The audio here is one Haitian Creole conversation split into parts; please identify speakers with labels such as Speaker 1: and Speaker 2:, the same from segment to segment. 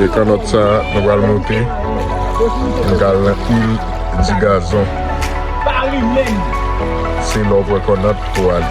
Speaker 1: E kanòt sa nou pral moute Nou pral nan il di gazon Se la w pran kanòt pou w ale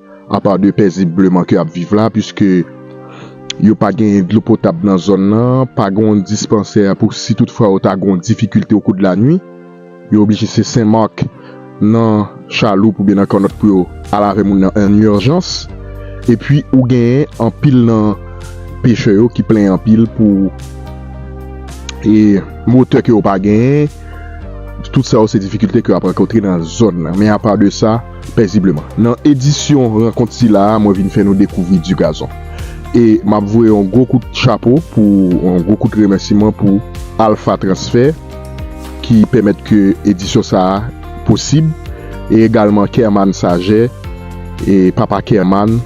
Speaker 2: Apa de pèzibleman ke ap viv la pwiske yo pa genyen dlo potab nan zòn nan, pa gen yon dispansè pou si tout fwa yo ta gen yon difikilte okou de lanwi, yo oblije se Sen Marc, nan Chaloup oubyen nan Kannòt pou yo al avè moun nan an urjans. Epwi ou genyen anpil nan pechè yo ki plenyen anpil pou e motè ke yo pa genyen, tout sa yo se difikilte ke yo ap rankontre nan zòn nan. Men apa de sa. Pèzibleman, nan edisyon rankont sila a mwen vin fè nou dekouvri Du Gazon. E m ap voye yon gwo kout chapo pou, yon gwo kout remèsiman pou Alpha Transfert ki pèmèt ke edisyon sa a posib e egalman Kermann Saget e Papa Kermann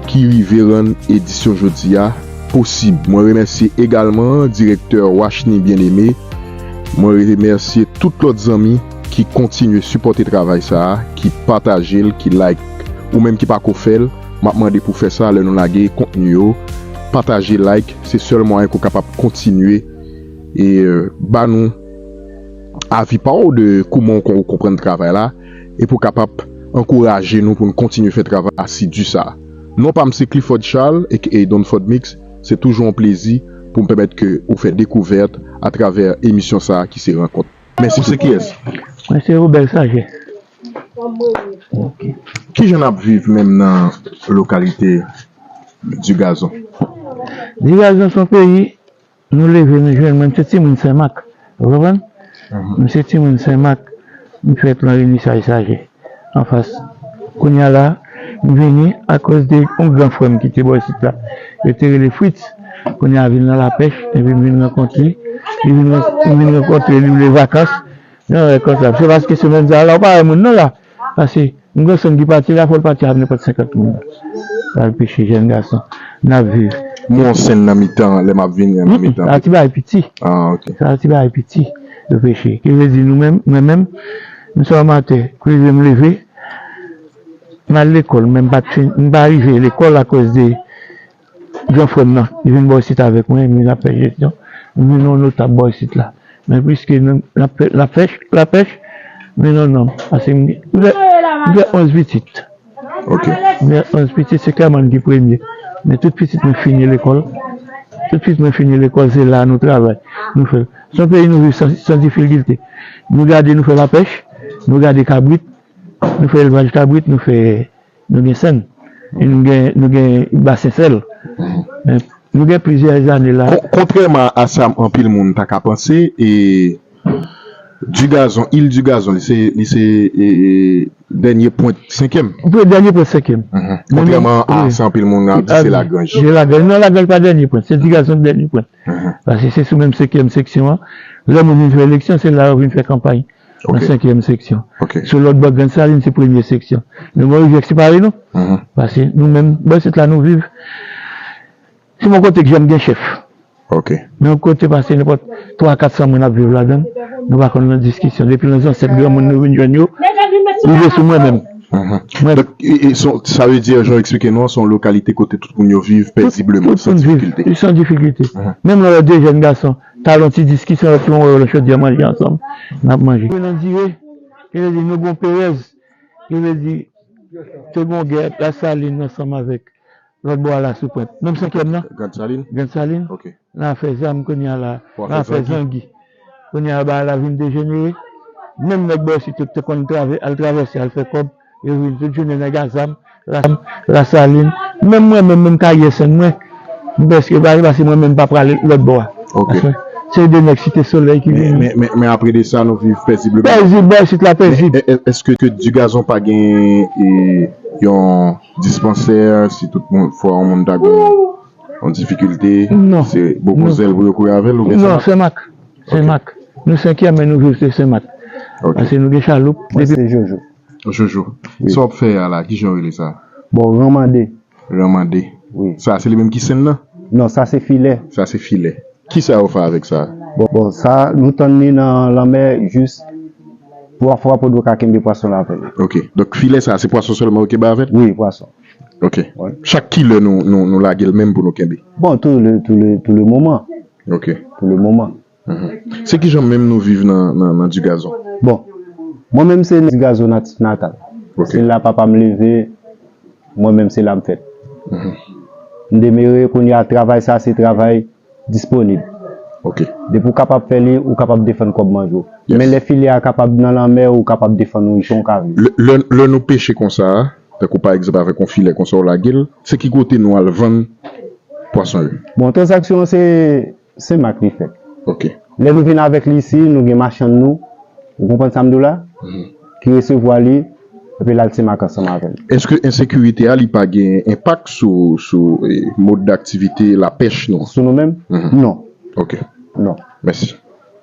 Speaker 2: ki rive rann edisyon jodi a posib. Mwen remèsye egalman direktè Washny Bien-Aimé, mwen remèsye tout lòt zanmi. ki kontinye sipòte travay sa a, ki pataje l, ki like. Ou menm ki pako fè l, m ap mande pou fè sa lè nou lage kontni yo. Pataje, like, se sèl mwayen ke w kapab kontinye e ba nou avi pa w de kouman ou konprann travay la e pou w kapab ankouraje nou pou nou kontinye fè travay asidi sa a. Non pa m se Clifford Charles aka DonFordMix, se toujou yon plezi pou m pèmèt ke ou fè dekouvèt atravè emisyon sa a ki se Rankont. Mèsi tout moun. Mwen se Robert
Speaker 3: Saget.
Speaker 2: Kijan n ap viv menm nan lokalite Digazon?
Speaker 3: Digazon se yon peyi nou leve nou jwenn. Mwen m se timoun Senmak. Ou konprann? Mwen se timoun Senmak. M fèt nan Renisaj Saget. anfas kounya la m vini akoz de yon gran frèm ki te bò isit la yo te rele Fritz kounya vin nan lapèch epi m vin rankontre li m vin rankontre li vle vakans yon bagay konsa se paske semèn sa la ou pa wè moun non la pase yon granson ki pati la fòl pati avk nenpòt 50 moun pral peche jèn gason nap viv. M wè yon senn nan
Speaker 2: mitan an lè map vini an nan mitan
Speaker 3: an. Sa se ti
Speaker 2: bagay piti
Speaker 3: yo peche ki vle di nou menm mwen menm. M sot anmatè pou rive m leve m al lekòl men m pa rive lekòl akoz de gran frè m nan ki vin bò isit avèk mwen epi n ap fè jesyon m vin yon notab bò isit la men piske n ap fè lapèch m vin yon nonm paske m gen 11 pitit. Ok.
Speaker 2: Mwen gen 11
Speaker 3: pitit se klèman m ki premye men tout pitit mwen fini lekòl tout pitit mwen fini lekòl se la nou travay nou fè l se yon peyi nou viv san difilgilte nou gade nou fè lapèch nou gade kabrit nou fè elvaj kabrit nou fè nou gen sèn nou gen nou gen basen sèl nou gen plizyè zane la. Kontrèman a sa
Speaker 2: anpil moun ta ka panse e. Du Gazon, Île du Gazon, li se li se dènye pwent senkyèm? Li dènye pwent senkyèm.
Speaker 3: Kontrèman a
Speaker 2: sa anpil moun ap di se Lagranj. Se Lagranj. Non Lagranj pa
Speaker 3: dènye pwent. Se Du Gazon ki dènye pwent. Paske se sou menm senkyèm seksyon an. Lè moun vin fè eleksyon, se la yo vin fè kanpay. Nan senkyèm seksyon. Sou lòt bò Grand Saline se premye seksyon. Men Gonaives separe nou. Paske nou menm bò isit la nou viv. Si bon kote k janm gen chèf. Ok. Men
Speaker 2: yon kote pase
Speaker 3: nenpòt 3 400 moun ap viv ladan l, nou pa konn nan diskisyon. Depi nan zansèt granmoun nou vin jwenn yo, rive sou mwen menm. Donk,
Speaker 2: sa vle di jan w eksplike nou an, se yon lokalite kote tout moun yo viv pèzibleman, san difikilte. Tout moun viv san difikilte.
Speaker 3: Menm lè w wè 2 jèn gason ta gen yon ti diskisyon, lòt lan wè yo nan chodyè manje ansanm, n ap manje. Mwen nan dire, yo te di nou gen yon perèz. Yo te di te gen yon gè Lasalin ansanm avèk Lòt bò a la sou pwent. Menm senkyèm nan? Grand Salin. Grand Salin.
Speaker 2: Ok.
Speaker 3: Nan afè zam kounye a la. Pou afè zangi. Nan afè zangi. Kounye a ba a la vin dejenere. Menm nèg bò isit yo ki te konn trave, al travèse al fè kòb, yo vin tout jounen nèg a zam, Lasalin. Lasalin. Menm mwen menm, menm karyè sen mwen, m prèske pa ale paske mwen menm m pa prale lòt bò a. Ok. Se
Speaker 2: de nèg
Speaker 3: site solèy ki vin. Men, men apre de sa nou
Speaker 2: viv pèzibleman. Pèzib, bò isit la
Speaker 3: pèzib. Èske Digazon
Speaker 2: pa gen yon. Dispansè si tout moun fwa yon moun ta gen yon difikilte se
Speaker 3: bokozel pou
Speaker 2: yo kouri avèl oubyen senmak? Non senmak
Speaker 3: senmak nou senkyèm men nou viv se senmak pase nou gen chaloup depi. Mwen se jojo.
Speaker 4: Jojo
Speaker 2: sa wap fè a la kijan yo rele sa? Bon ranmande.
Speaker 4: Ranmande
Speaker 2: sa se li
Speaker 4: menm ki senn nan?
Speaker 2: Non sa se filè.
Speaker 4: Sa se filè.
Speaker 2: Kisa yo fè avèk sa? Bon, sa
Speaker 4: nou tann li nan lanmè jis 3 fwa pou nou ka kenbe pwason la avè li. Ok. Donk filè
Speaker 2: sa a se pwason sèlman yo kenbe avè l? Wi, pwason.
Speaker 4: Ok.
Speaker 2: Chak kilè nou lage l menm pou nou kenbe? Bon, tou le, tou le,
Speaker 4: tou le moman. Ok. Tou le
Speaker 2: moman.
Speaker 4: Se kijan
Speaker 2: menm nou viv nan Digazon? Bon,
Speaker 4: mwen menm se Digazon natif natal. Ok. Se la papa
Speaker 2: m leve.
Speaker 4: mwen menm se la m fèt. M demere kounye a travay sa se travay disponib.
Speaker 2: Depi w kapab fè
Speaker 4: li, ou kapab defann kòb manje w. Men lè filè a
Speaker 2: kapab
Speaker 4: nan lanmè, ou kapab defann ou jan w ka vle. Lè nou peche
Speaker 2: konsa, tankou pa egzanp avèk yon filè konsa w lage l, se ki kote nou al vann pwason yo? Bon, tranzaksyon
Speaker 4: an se Sen Mak li fèt. Ok. Lè
Speaker 2: nou vin avèk
Speaker 4: li isi, nou gen machann nou, ou konprann sa m di w la? Ki resevwa li, epi l al Sen Mak ansanm avè l. Eske ensekirite
Speaker 2: a li pa gen enpak sou sou mode daktivite lapèch nou? Sou nou menm? Non.
Speaker 4: Ok.
Speaker 2: Non. Mèsi.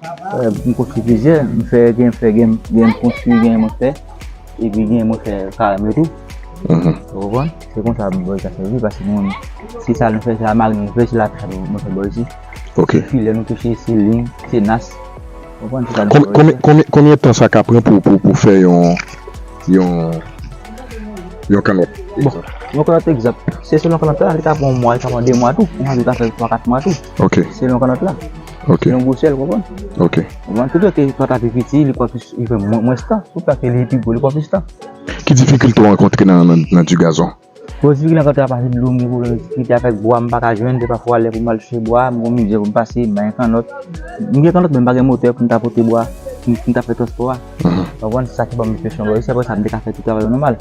Speaker 5: Mwen konstwi plizyè, mwen fè gen mwen fè gen mwen konstwi gen mwen fè epi gen mwen fè parenm yo tou ou konprann, se konsa mwen bò isi mwen paske mwen se sa mwen fè se la marin mwen fè se la pèch mwen fè bò isi se filè mwen
Speaker 2: pèch se
Speaker 5: lin, se nas ou konprann se sa mwen fè bò isi
Speaker 2: Konbyen tan sa ka pran pou fè yon yon yon kanòt egzanp? Yon
Speaker 5: kanòt egzanp, se selon kanòt la li ka pran yon mwa li ka pran 2 mwa tou ou konprann li ka pran 3, 4 mwa tou selon kanòt la. Ok. Yon gwo sèl,
Speaker 2: konprann?
Speaker 5: Ok. Konprann? Tout
Speaker 2: lè ke plant
Speaker 5: la pi piti, li pran plis, li pran mwens tan. Tout lè ke li pi gwo, li pran plis tan. Ki difikilte w
Speaker 2: rankontre nan di gazon? Bon, difikilte m rankontre
Speaker 5: a pati dlo, m gen pwoblèm difikilte avèk bwa, m pa ka jwenn. Dè pafwa lè pou m al chèche bwa, m gon mizè pou m pase, m bagen kannòt. M gen kannòt men m pa gen motè pou m ta pote bwa, pou m ta fè transpò a. Konprann? Se sa ki ban m enfeksyon bwa yo. Si se pa sa m te ka fè tout travay yo nòmal.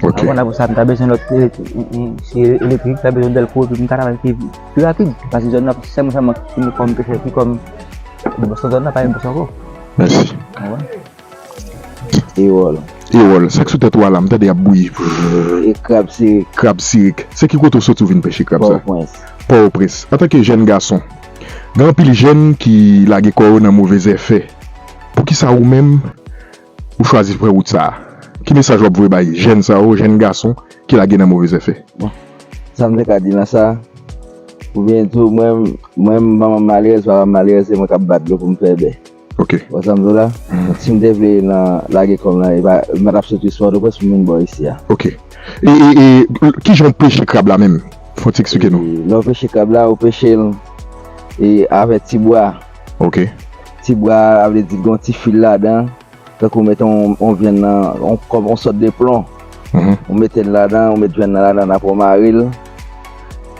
Speaker 5: Ok. Konprann? Apre sa m ta bezwen lòt, elektrik, m ta bezwen dèlko epi m ta travay pi vit. Pi rapid, pase zòn nan, sèlman sa mank fini kòm pechè pi kòm nan bòs zòn nan pa gen bòs ankò. Mèsi.
Speaker 2: Mèsi.
Speaker 5: Ewòl. Ewòl, sak sou tèt
Speaker 2: ou a la, m tande yap bouyi. Vrrr. E krab
Speaker 5: sirik. Krab sirik. Se
Speaker 2: ki kote ou soti ou vin pèche krab sa? Pòtoprens. Pòtoprens. Antanke jèn gason, gen anpil jèn ki lage kò yo nan move zèfè. Poukisa ou menm ou chwazi pran wout sa a? Ki mesaj w ap voye bay jèn sa yo, jèn gason ki lage nan move zèfè? Bon, sa m
Speaker 6: te ka di nan sa? Oubyen tou mwen mwen m manman malèrèz, papa m malèrèz se mwen k ap bat dlo pou m fè bè? Ok. Ou wè sa m di w
Speaker 2: la?
Speaker 6: Si m te vle nan lage kò m nan, e pa m pa t ap soti sou Pòtoprens pou m vin bò isi a. Ok. E, e,
Speaker 2: e, ki jan w peche krab la menm? Fò w ti eksplike nou. Lè w peche krab la, ou
Speaker 6: peche l e avè ti bwa. ok.
Speaker 2: Ti bra
Speaker 6: a vle di gon ti fil ladan tankou met on vyann nan kòm on sòt de plon ou metel ladan ou met vyann nan ladan aprè ou marel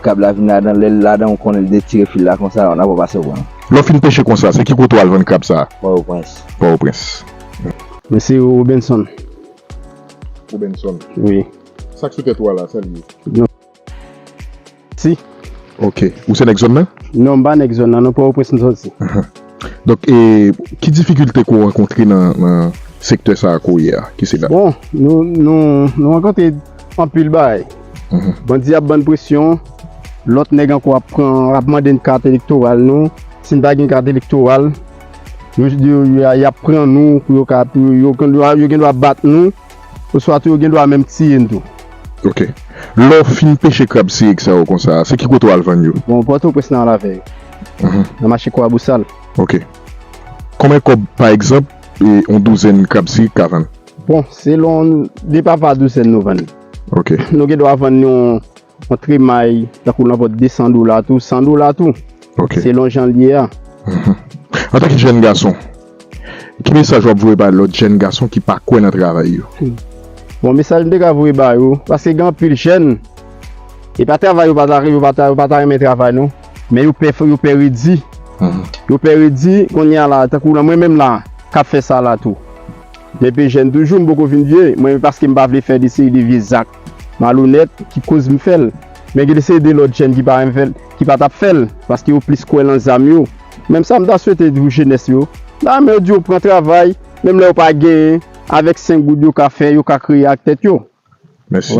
Speaker 6: kab la vin ladan lèl ladan ou konnen li detire fil la konsa aprè ou pase pranl. Lèw fin peche konsa se
Speaker 2: ki kote wal vann krab sa? Pòtoprens. Pòtoprens. Mwen se
Speaker 4: Robenson.
Speaker 2: Robenson. Wi.
Speaker 4: Sak sou tèt ou a
Speaker 2: la, sal ye? Si.
Speaker 4: Ok. Ou se
Speaker 2: nèg zòn nan? Non, m pa nèg zòn nan non,
Speaker 4: Pòtoprens m soti. Donk,
Speaker 2: ki difikilte ke w rankontre nan sektè sa a kounye a? Ki se nan. Bon,
Speaker 4: nou rankontre anpil bagay. Bandi ap ban n presyon, lòt nèg ankò ap pran, ap mande n kat elektoral nou. Si n pa gen kat elektoral, yo di yo y ap pran nou pou yo ka, pou yo, yo gendwa bat nou. Oswa tou yo gen dwa menm tiye n tou. Ok.
Speaker 2: Lè w fin peche krab sirik sa yo konsa, se ki kote w al vann yo? Bon, Pòtoprens nan la
Speaker 4: vè yo. Nan mache Kwabosal. Ok.
Speaker 2: Konbyen kòb, pa egzanp, yon douzèn krab sirik ka vann? Bon, selon
Speaker 4: depa pa douzèn nou vann li. Ok. Nou gen
Speaker 2: dwa vann
Speaker 4: yon Yon tremay tankou nan vòt 200 dola tou, 100 dola tou, selon jan
Speaker 2: l ye a. Antan ke jèn gason, ki mesaj w ap voye bay lòt jèn gason ki pa kwè nan travay yo? Bon,
Speaker 4: mesaj m te ka voye ba yo, paske gen anpil jèn, e pa travay yo pa ta, yo pa ta, yo pa ta renmen travay non, men yo pè, yo pè redi. Yo pè redi, kounye a la, tankou la mwen menm la, k ap fè sa la tou. Mwen te jèn toujou, m poko vin vye, men paske m pa vle fè de seri de vye zak. Malonèt ki koz m fèl. Men gen de se de lòt jèn ki pa renmen fèl, ki pa tap fèl, paske yo plis kwè lan zam yo. Menm sa m ta swete pou jenès yo, la men yo di yo pran travay, menm lè yo pa genyen, avèk 5 goud yo ka fè, yo ka kreye ak tèt yo. Mèsi.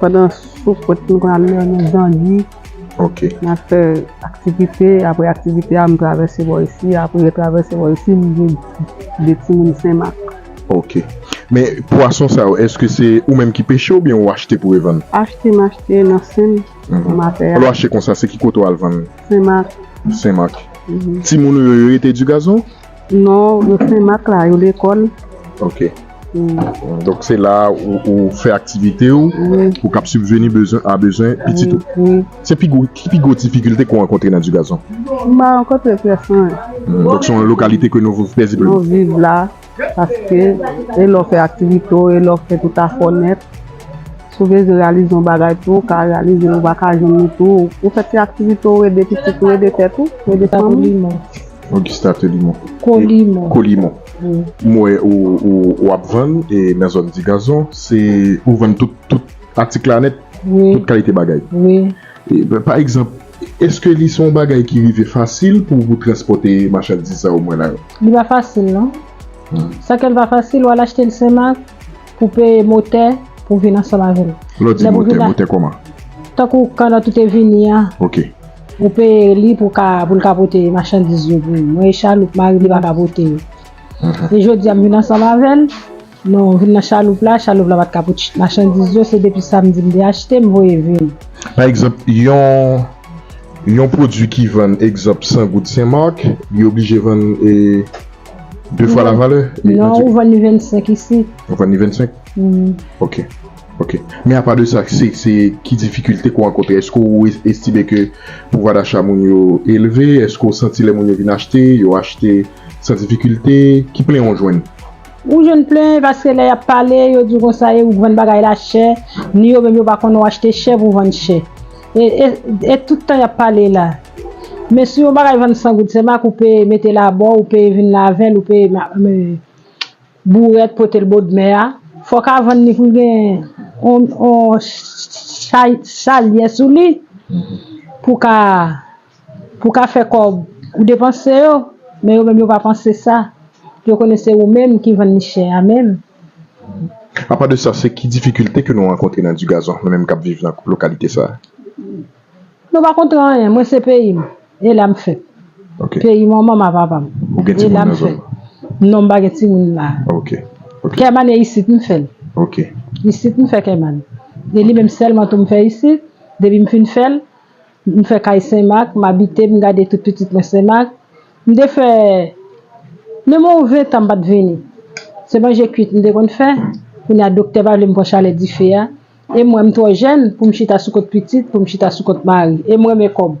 Speaker 7: Pandan sou kot nou konn ale nan zangi. Ok. Nan
Speaker 2: fè
Speaker 7: aktivite, apre aktivite a m travèse bò isi, apre travèse bò isi m vin de timoun senmak. Ok.
Speaker 2: Men pwason sa yo eske se ou menm ki peche oubyen ou achte pou revann? Achte m achte
Speaker 7: nan sen nan mapè a. Lè w achte konsa se ki kote
Speaker 2: w al vann? Senmak.
Speaker 7: Senmak.
Speaker 2: Timoun ou yo yo rete Digazon? Non yo
Speaker 7: senmak la yo lekol. Ok
Speaker 2: donk se la ou fè aktivite ou pou kap sibveni bezwen a bezwen pitit ou se pi gwo ki pi gwo difikilte ke w rankontre nan Dugason? M pa rankontre
Speaker 7: presyon donk se yon
Speaker 2: lokalite ke nou viv pèzibleman nou viv la
Speaker 7: paske e lè w fè aktivite w e lè w fè tout afè w nèt. Si w bezwen reyalize yon bagay tou ou ka reyalize l, ou pa ka jwenn li tou ou fè ti aktivite ou ede pitit ou, ede tèt ou, ede fanmi w. Augusta
Speaker 2: Telimon, Colimon,
Speaker 7: m wè
Speaker 2: ou ap vann nan zòn Ti Gazon, se ou vann tout atik la nèt, tout kalite bagay.
Speaker 7: Pa
Speaker 2: egzanp, èske li se yon bagay ki rive fasil pou ou transpòte machandiz sa yo mwen la yo? Li pa fasil
Speaker 8: non. Sa kè l pa fasil, ou al achte l Senmak. pou peye motè pou vin ansanm avè m. Lè w di motè, motè kòman?
Speaker 2: Tankou kan
Speaker 8: nan tout e vini a. Ok.
Speaker 2: Ou peye
Speaker 8: li pou ka, pou l ka pote machandiz yo pou ou. Mwen e chaloup, mari m li pa ka pote yo. E jodi a m vin ansanm avè l, nou vin nan chaloup la, chaloup la pa t ka pote machandiz yo, se depi samdi m te achte, m voye vin. Pa egzanp,
Speaker 2: yon, yon pwodui ki vann egzanp 100 goud Senmak, li oblije vann e. 2 fwa la valè? Non, ou vann
Speaker 8: li 25 isit. Ou vann li 25?
Speaker 2: Ok. Ok. Men apa de sa, se ki difikilte kou ankote? Eske ou estime ke pouvwa dacha moun yo elve? Eske ou santi lè moun yo vin achte, yo achte san difikilte? Ki plen ou jwenn? Ou jwenn
Speaker 8: plen paske lè y ap pale, yo di w konsa, e ou k vann bagay la chè, ni yo menm yo pa konnen ou achte chè pou w vann chè. E tout tan yap pale la. Men si yon bagay vann 100 goud se mak ou peye metel abò ou peye vin lavel ou peye bourèt potel bodmè a fòk a vann li poul gen yon chay salye sou li pou ka Pou ka fè kòb, ou depanse yo, men yo menm yo pa panse sa, yo konnen se ou menm ki vann li chè a menm.
Speaker 2: A pa de sa, se ki difikilte ke nou rankontre nan Dugazon, nou menm kap viv nan lokalite sa?
Speaker 8: Nou pa kontre anyen, mwen se peyi m, e la m fèt. Peyi manman m a papa m, e la m fèt. Non m pa gen timoun la.
Speaker 2: Kèman e
Speaker 8: isit m fè l.
Speaker 2: Isit m fè
Speaker 8: kèman. E li menm sèlman tou m fè isit, depi m fin fè l, M fè kay Senmak, m abite, m gade tout pitit mwen Senmak. M te fè menm yon ventan m pa t vini. Se manje kuit m te konn fè. Kounye a doktè pa vle m pran chalè dife a. E mwen m twò jèn pou m chita sou kont pitit, pou m chita sou kont mari. E m renmen kòb.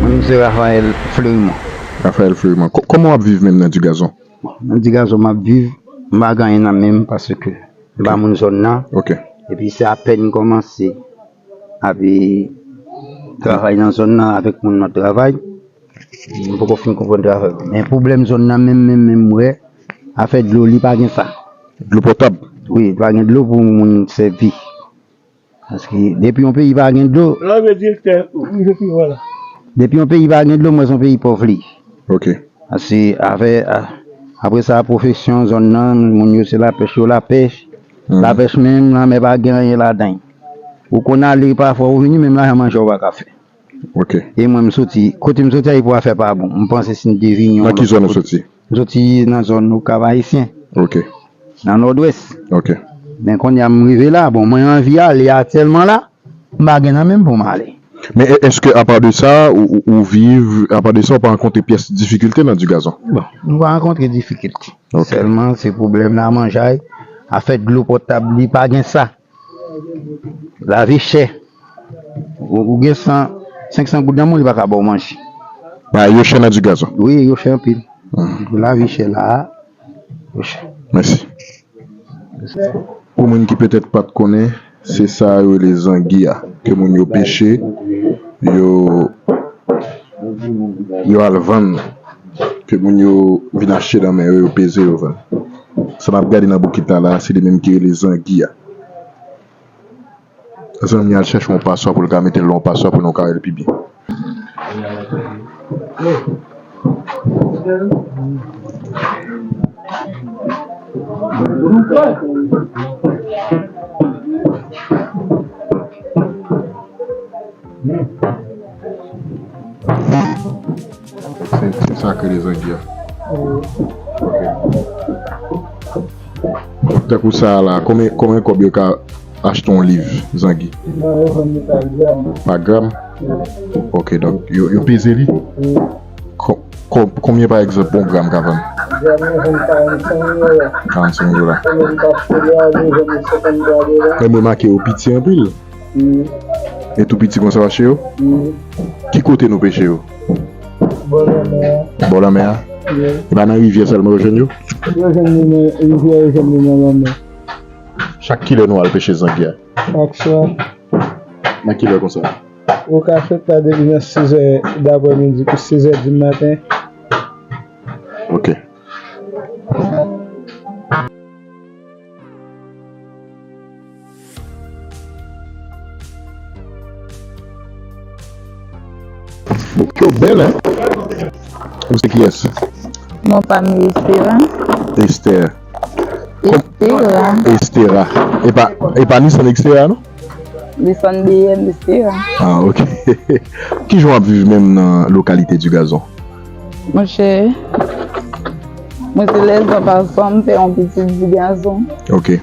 Speaker 9: Mwen menm se Raphaël Fleurimond. Raphaël Fleurimond,
Speaker 2: kòman w ap viv menm nan Digazon? Bon, nan Digazon m
Speaker 9: ap viv, m pa gen anyen nan men m paske m pa moun zòn nan. Ok. Epi se apèn m kòmanse ap travay nan zòn nan avèk moun m ap travay. M poko fin konprann travay yo. Men pwoblèm zòn nan menm menm menm m wè, afè dlo li pa gen sa. Dlo potab?
Speaker 2: Wi, pa gen dlo
Speaker 9: pou moun sèvi. Paske depi yon peyi pa gen dlo. Lan ve direktè
Speaker 3: wi se pi wala. Depi yon peyi pa
Speaker 9: gen dlo mwen son peyi pòv li. Ok.
Speaker 2: Ase
Speaker 9: afè apre sa pwofesyon zòn nan moun yo se la pèch yo la pèch. La pèch menm lanmè pa gen anyen ladann. Ou konn ale pafwa ou vini menm lajan manje ou pa ka fè. E
Speaker 2: mwen m soti
Speaker 9: kote m soti ayipo afè pa bon m panse si n te vini
Speaker 2: yon lòt
Speaker 9: kote
Speaker 2: m
Speaker 9: soti
Speaker 2: nan
Speaker 9: zòn okap ayisyen nan nòdwès men
Speaker 2: konnya m
Speaker 9: rive la bon mwen anvi ale atyèlman la m pa gen nan menm pou m ale. Men èske apa
Speaker 2: de sa ou viv apa de sa ou pa rankontre pyès difikilte nan dugazon? Bon m pa rankontre
Speaker 9: difikilte sèlman se
Speaker 2: pwoblèm
Speaker 9: lamanjay afè dlo potab li pa gen sa. Lavi chè. Ou gen 100, 500 goud nan men w li pa ka ba w manje. Bagay yo chè
Speaker 2: nan Dugas an. Wi, yo chè anpil.
Speaker 9: Lavi chè la a. Yo chè.
Speaker 2: Mèsi. Pou moun ki petèt pa t konnen, se sa yo rele zangi a ke moun yo peche, yo al vann, ke moun yo vin achte nan men yo, yo peze yo vann. Sa nap gade nan bokit la la se li menm ki rele zangi a. Zanmi an al chèche yon paswa pou l ka mete l yon paswa pou nou ka wè l pi byen. Se sak rele zangi a. Ok. Tankou sa la, konbyen konbyen kob yo ka achte yon liv zangi? Nan yo vann li pa gram. Pa gram? Ok, donk yo yo peze li? Kon konbyen pa egzanp yon gram ka vann? Gram nan vann 45 dola. 45 dola. Ou menm ka achte li a li vann li 53 dola. Menm remake yo piti anpil. Wi. Yo tou piti konsa yo achte yo? Wi. Ki kote nou peche yo? Bò lanmè a. Bò lanmè a? Wi. E pa nan rivyè sèlman yo jwenn yo? Yo jwenn li nan rivyè, yo jwenn li nan lanmè. Chak kilè nou al peche zangye a? Chak swa.
Speaker 3: Nan
Speaker 2: kilè konsa? Ou ka fèt
Speaker 3: la depi nan sizè daprè midi pou sizè di maten.
Speaker 2: Ok. Foto bel hein Ou se kiyes? Mwen pa m
Speaker 10: Estera. Esther. Estera.
Speaker 2: Estera. E pa, e pa Nissan Xterra non? Nissan
Speaker 10: BM Estera. Ah ok.
Speaker 2: Ki jan w ap viv menm nan lokalite du Gazon? Mwen chè,
Speaker 10: mwen se lè zon pa zon m fè yon pitit du Gazon. Ok.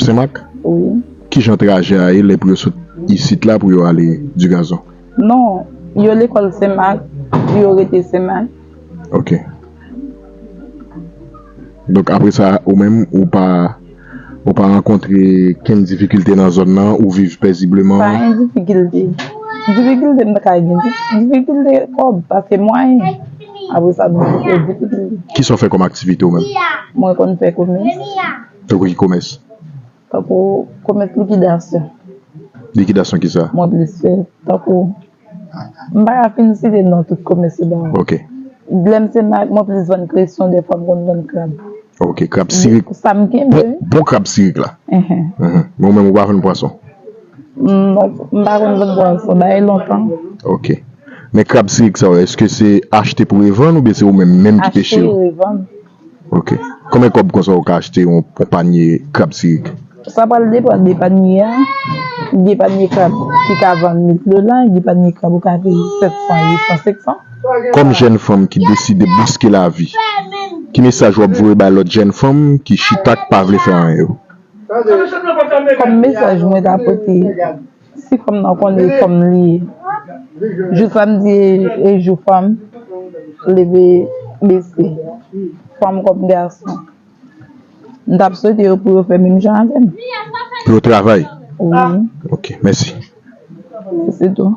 Speaker 10: Senmak?
Speaker 2: Wi. Ki jan
Speaker 10: trajè
Speaker 2: a ye lè pou yo sot isit la pou yo ale Digazon? Non,
Speaker 10: yo lekòl Senmak, pou yo rete Senmak. Ok.
Speaker 2: Donk apre sa, ou menm, ou pa, ou pa rankontre kenn difikilte nan zòn nan, ou viv pèzibleman? Pa gen difikilte.
Speaker 10: Difikilte m ta ka gen, difikilte kòb, paske mwayen. Apre sa, difikilte. Ki sa w fè kòm
Speaker 2: aktivite ou menm? Mwen konn fè
Speaker 10: komès. Tankou ki
Speaker 2: komès? Tankou
Speaker 10: komès likidasyon. Likidasyon
Speaker 2: ki sa? Mwen plis fè.
Speaker 10: Tankou, m pa ka fin site non tout komès yo ba ou. Ok. Lè
Speaker 2: m se ma,
Speaker 10: mwen plis vann kresyon dèfwa m konn vann krab. Ok, krab
Speaker 2: sirik. Sa m kenbe.
Speaker 10: Bon krab sirik
Speaker 2: la. Enhen. Enhen. Men ou menm ou pa vann pwason?
Speaker 10: M pa konn vann pwason. Ba e lontan. Ok.
Speaker 2: Men krab sirik sa yo, èske se achte pou revann oubyen se ou menm menm ki peche yo? Achte e revann.
Speaker 10: Ok
Speaker 2: konbyen kob konsa ou ka achte yon panye krab sirik? Sa pral depan
Speaker 10: de panye a, gen panye krab ki ka vann 1000 dola, gen panye krab ou ka peye 700, 800, 500. Kòm jèn
Speaker 2: fanm ki deside bouske lavi, ki mesaj wap voye bay lòt jèn fanm ki chita k pa vle fè anyen yo?
Speaker 10: Kòm mesaj mwen ta pote. Si fanm nan konn li fanm li ye. Jou samdi e jou fanm leve bese. Fanm kòm gason. M tap swete yo pou yo fè menm jan avèm. Pou yo
Speaker 2: travay?
Speaker 10: Wi. Ok,
Speaker 2: mèsi. Se tou.